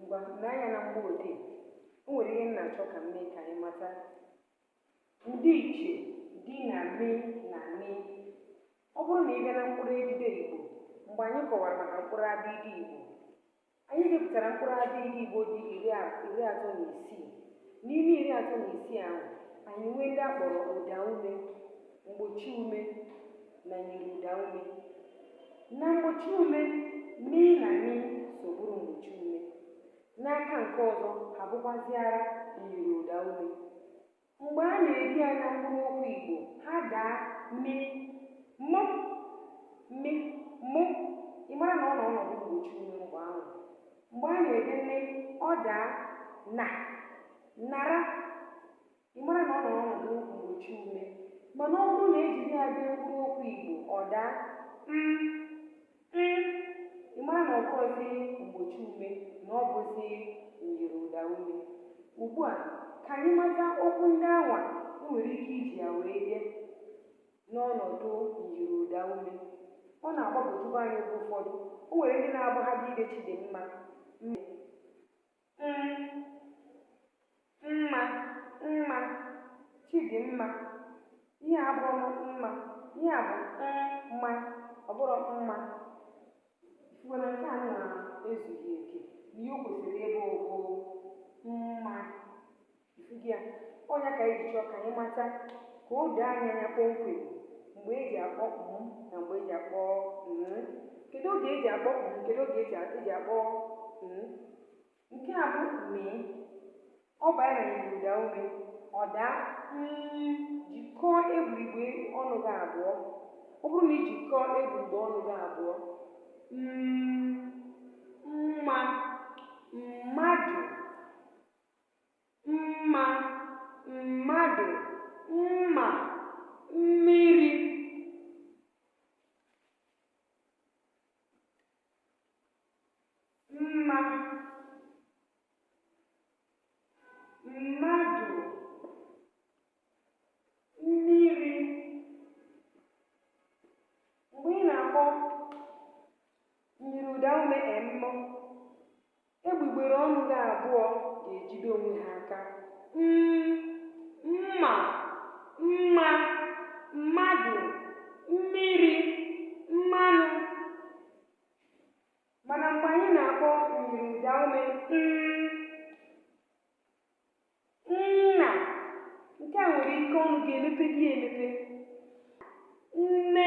ngwa lee anya na mgbo odee o nwere ihe m na-achọ ka m mee ka anyị mata ndịiche dị na me na ne ọ bụrụ na ị bịa na mkpụrụ edide igbo mgbe anyị kọwara maka mkpụrụ abịdịị igbo anyị depụtara mkpụrụ abịdịị igbo dị iri a- iri atọ na isii n'ime iri atọ na isii ahụ anyị nwee ndị a kpọrọ ụda ume mgbochi ume na myiri ụda ume na mgbochi ume me na ne so bụrụ mgbochi ume n'aka nke ọzọ ha bụkwaziara myiri ụda ume mgbe a na-ede ya na mkpụrụ okwu igbo ha daa me mụ me mụ ị mara na ọ nọ ọnọdụ mgbochi ume mgbe ahụ mgbe a na-ede ne ọ daa na nara Ị mara na ọ nọ n'ọnọdụ mgbochi ume mana ọ bụrụ na e jiri ya dee mkpụrụ okwu Igbo, ọ daa m, m. Ị mara na ọ bụrọzi mgbochi ume na ọ bụzi myiri ụda ume. Ugbu a, ka anyị mata okwu ndị anwa e nwere ike iji ya wee dee n'ọnọdụ myiri ụda ume. Ọ na-agbagwojuba anyị oge ụfọdụ. O nwere ndị na-abụ ha bịa ide Chidimma, m. mma mma chidimma ihe a bụrụ mma ihe a bụ mma ọ bụrụ mma mana nke a na-ezughị oke na ihe o kwesịrị ịbụ bụ mma Ị fụgo ya, ọ nya ka anyị ji chọọ ka anyị mata ka o doo anyị anya kpọmkwem mgbe e ji akpọ m na mgbe e ji akpọ m. Kedu oge e ji akpọ m? Kedu oge e ji a- e ji akpọ m? Nke a bụ me. Ọ baa na myiri ụda ume, ọ daa mm, jikọọ egbugbere ọnụ gị abụọ. Ọ bụrụ na i jikọọ egbugbere ọnụ gị abụọ, mm, mma, mmadụ, mma mmadụ mma mmiri mma mmadụ mmiri mgbe ị na-akpọ myiri ụda ume emmụ Egbugbere ọnụ gị abụọ ga-ejide onwe ha aka. M, mma, mma, mmadụ, mmiri, mmanụ. Mana mgbe anyị na-akpọ myiri ụdaume n, nna, nke a nwere ike ọnụ ga-emepe gị emepe. Nne,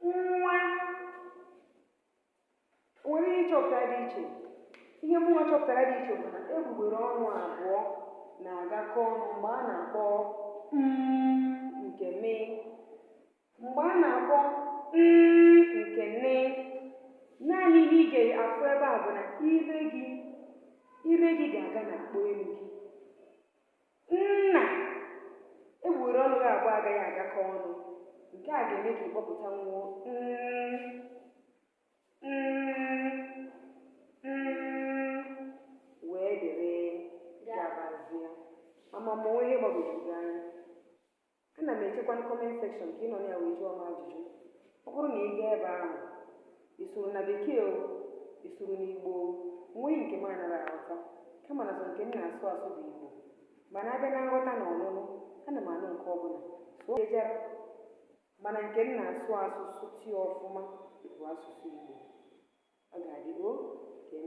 nwa o nwere ihe ị chọpụtara dị iche ihe mụnwa chọpụtara dị iche bụ na egbugbere ọnụ abụọ na-agakọ ọnụ mgbe a na-akpọ mm nke me mgbe a na-akpọ nn nke nne naanị ihe ị ga-afụ ebe a bụ na ire gị ire gị ga-aga na akpo elu gị Na egbugbere ọnụ gị abụọ agaghị agakọ ọnụ. Nke a ga-eme ka ị kpọpụta nwuo wee dịrị gabazie. Ama m ma o nwe ihe gbagwojuru gị anya. Ana m echekwa comment section ka ị nọ na ya wee jụọ m ajụjụ. Ọ bụrụ na ị gaa ebe ahụ, ị sụrụ na Bekee o, ị sụrụ n'Igbo o, o nweghị nke m anaghị aghọta, kama na sọ nke m na-asụ asụ bụ Igbo. Mana abịa na nghọta na ọnụnụ, ana m anụ nke ọbụla, sụọ ejara, mana nke m na-asụ asụ sụtịa ọfụma bụ asụsụ Igbo. Ọ ga-adị o ka eme.